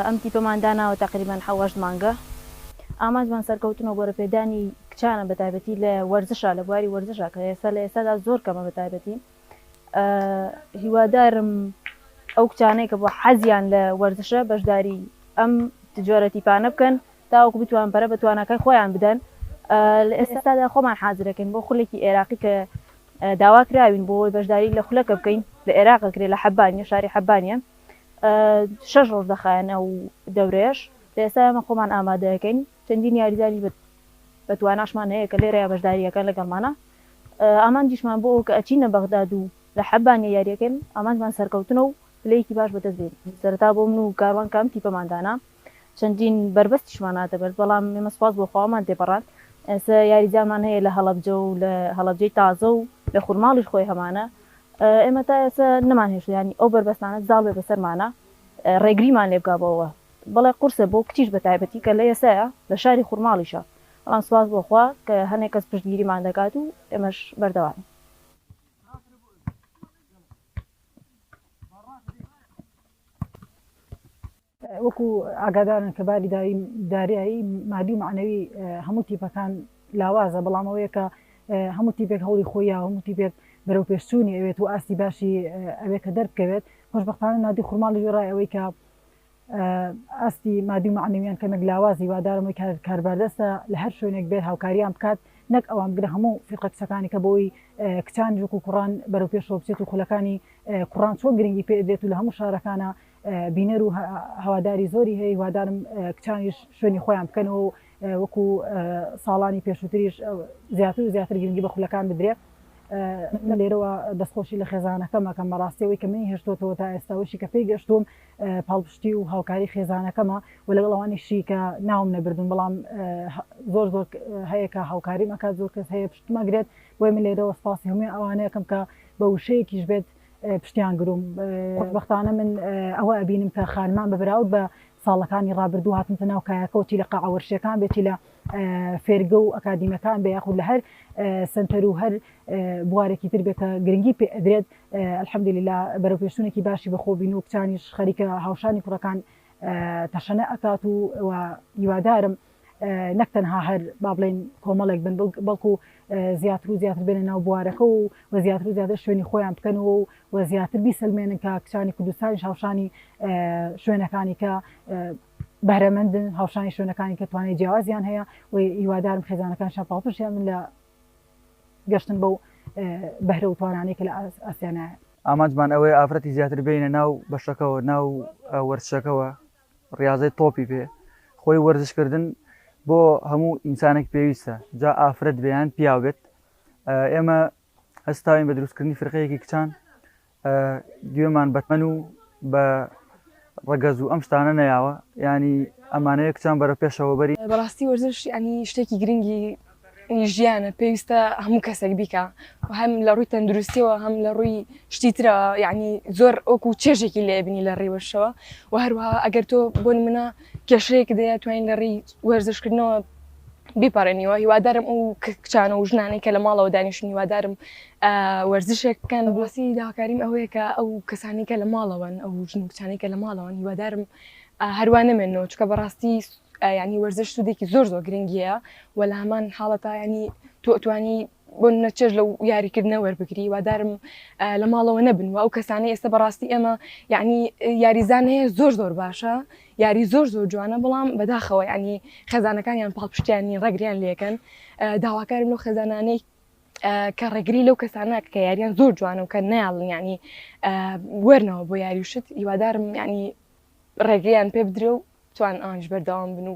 ئەم تیپەمان داناوە تەقریبەن حەو هەشت مانگە ئامانجمان سەرکەوتن و گۆرەپێدانی کچانە بە تایبەتی لە وەرزشا لە بواری وەرزشا کە ئێستا لە ئێستادا زۆر کەمە بە تایبەتی هیوادارم ئەو کچانەی کە بۆ حەزیان لە وەرزشە بەشداری ئەم جۆرە تیپانە بکەن تاوەکو بتوانن پەرە بە تواناکای خۆیان بدەن، لە ئێستادا خۆمان حازرەکەین بۆ خولێکی ئێراقی کە داوا کراوین بۆ ئەوەی بەشداری لە خولەکە بکەین لە ئێراق ئەکرێت لە حەبانیە شاری حەبانیە شەش ڕۆژ دەخایەن ئەو دەورەیەش لە ئێستا ئێمە خۆمان ئامادەکەین چەندین یاریزانی بە تواناشمان هەیە کە لێرەیە بەشداریەکە لەگەڵمانە ئامانجیشمان بۆ ئەو کە ئەچینە بەغداد و لە حەبانیە یاریەکەن ئامانجمان سەرکەوتنە و پلەیەکی باش بەدەست بێنین سەرتا بۆ من و کاروان کام تیپەماندانا چەندین بەربەستیشمان هاتە بەر، بەڵام ئێمە سوپاس بۆ خوامان تێپەڕاند، ئێستا یاریزانمان هەیە لە هەڵەبجە و لە هەڵەبجەی تازە و لە خورماڵیش خۆی هەمانە، ئێمە تا ئێستا نەمانهێشت یانی ئەو بەربەستانە زاڵ بێت بەسەرمانا رێگریمان لێ بکا بەوە، بەڵێ قورسە بۆ کچیش بە تایبەتی کە لە ئێستایا لە شاری خورماڵیشە، بەڵام سوپاس بۆ خوا کە هەنێ کەس پشتگیریمان دەکات و ئێمەش بەردەوامین. وەکو ئاگادارن کە باری داریایی مادی و مەعنەوی هەموو تیپەکان لاوازە بەڵام ئەوەیە کە هەموو تیپێک هەوڵی خۆی هەموو تیپێک بەرەو پێشچوونی ئەوێت و ئاستی باشی ئەوێ کە دەربکەوێت خۆشببختانە نادی خورماڵی وێڕای ئەوەی کە ئاستی مادی و معنەویان کەمێک لاوازی وادارمەوەی کارباردەستە لە هەر شوێنێک بێت هاوکاریان بکات نەک ئەوان بگرە هەموو فیقە کچەکانی کە بۆی کچان جوک و کوڕان بەرەو پێشەوە بچێت و خولەکانی کوڕان چۆن گرنگی پێدرێت و لە هەموو شارەکانە بینەر و هەواداری زۆری هەیە هیوادارم کچانیش شوێنی خۆیان بکەنەوە و وەکو ساڵانی پێشووتریش زیاتر و زیاتر گرنگی بە خولەکان بدرێت من لێرەوە دەستخۆشی لە خێزانەکەمەکەم بەڕاستیەوەی کە منی هێشتۆتەوە تا ئێستاوەشی کە پێی گەشتوم پاڵپشتی و هاوکاری خێزانەکەمە و لەگەڵ ئەوانیشی کە ناوم نەبردون بەڵام زۆر زۆر هەیە کە هاوکاری مەکات زۆر کەس هەیە پشتمەگرێت بۆی من لێرەوە سپاسی هەمووی ئەوانەیەکەم کە بە وشەیەکیش بێت پشتیان گروم خۆشبەختانە من ئەوە ئەبینم کە خانمان بە بەراود بە ساڵەکانی ڕابردوو هاتنتە ناو کایەکەوتی لە قاعەوەرشەکان بێتی لە فێرگە و ئەکادیمەکان بە یاخود لە هەر سنتەر و هەر بوارێکی تر بێت کە گرنگی پێ ئەدرێت الحەمدللا بەرە پێشونێکی باشی بەخۆبین و کچانیش خەریکە هاوشانی کوڕەکان تەشەنە ئەکات و هیوادارم نەک تەنها هەر با بڵێین کۆمەڵێک بن بەڵکو زیاتر و زیاتر بێنە ناو بوارەکە و و زیاتر و زیاتر شوێنی خۆیان بکەنەوە و و زیاتر بیسەلمێنن کە کچانی کوردستانی هاوشانی شوێنەکانی کە بەرەمەندن هاوشانی شوێنەکانی کە توانێت جیاوازیان هەیە و هیوادارم خێزانەکان شەپاڵپشیان من لە گەشتن بەو بەهرە و توانانەی کە لە ئاسیانایە ئامانجمان ئەوەیە ئافرەتی زیاتر بینە ناو بەشەکەەوە ناو وەرچەکەەوە ڕیاضەی تۆپی پێ خۆی وەرزش کردن بۆ هەموو ئینسانێک پێویستە جا ئافرەت بێیان پیاو بێت ئێمە هەستاوین بە دروستکردنی فرقەیەکی کچان گوێمان بەتمەن و بە ڕگەز و ئەم شتانە نەیاوە ینی ئەمانەیە کچان بەرە پێشەوە بەری بەڕاستی وەرزش ینی شتێکی گرنگی ی ژیانە پێویستە هەموو کەسێک بیکا و هەم لە ڕووی تەندروستیەوە هەم لە ڕووی شتی ترە یعنی زۆر ئۆکو و چێژێکی لێبنی لە ڕیوەشەوە و هەروها ئەگەر تۆ بۆن منە کێشەیەک دەیە توانین لە ڕی وەرزشکردنەوە بیپەڕێنیوە هیوادارم ئەو کچانە و ژنانەی کە لە ماڵەوە دانیشتن هیوادارم وەرزشێک بکەن بۆسی داکاریم ئەوەیە کە ئەو کەسانی کە لە ماڵەوەن ئەو ژن و کچانی کە لە ماڵەوەن هیوادارم هەروانەمێنەوە چکە بەڕاستی یانی وەرزش سودێکی زۆر زۆر گرنگیە و لە هەمان حاڵەتا ینی تۆ ئەتوانی بۆ نەچێژ لە یاریکردنە وەربگری وادارم لە ماڵەوە نەبن و ئەو کەسانی ئێستا بەڕاستی ئێمە یعنی یاریزان هەیە زۆر زۆر باشە یاری زۆر زۆر جوانە بەڵام بەداخەوە ینی خەزانەکانیان پاڵپشتیانی ڕگریان لەکەن داواکارم لەو خەزانانەی کە ڕێگری لەو کەسانە کە یاریان زۆر جوانە و کە ناڵن ینی وەرنەوە بۆ یاریوشت هیوادارم ینی ڕێگەیان پێ بدرێ و توان ئانج بەردەوام بن و.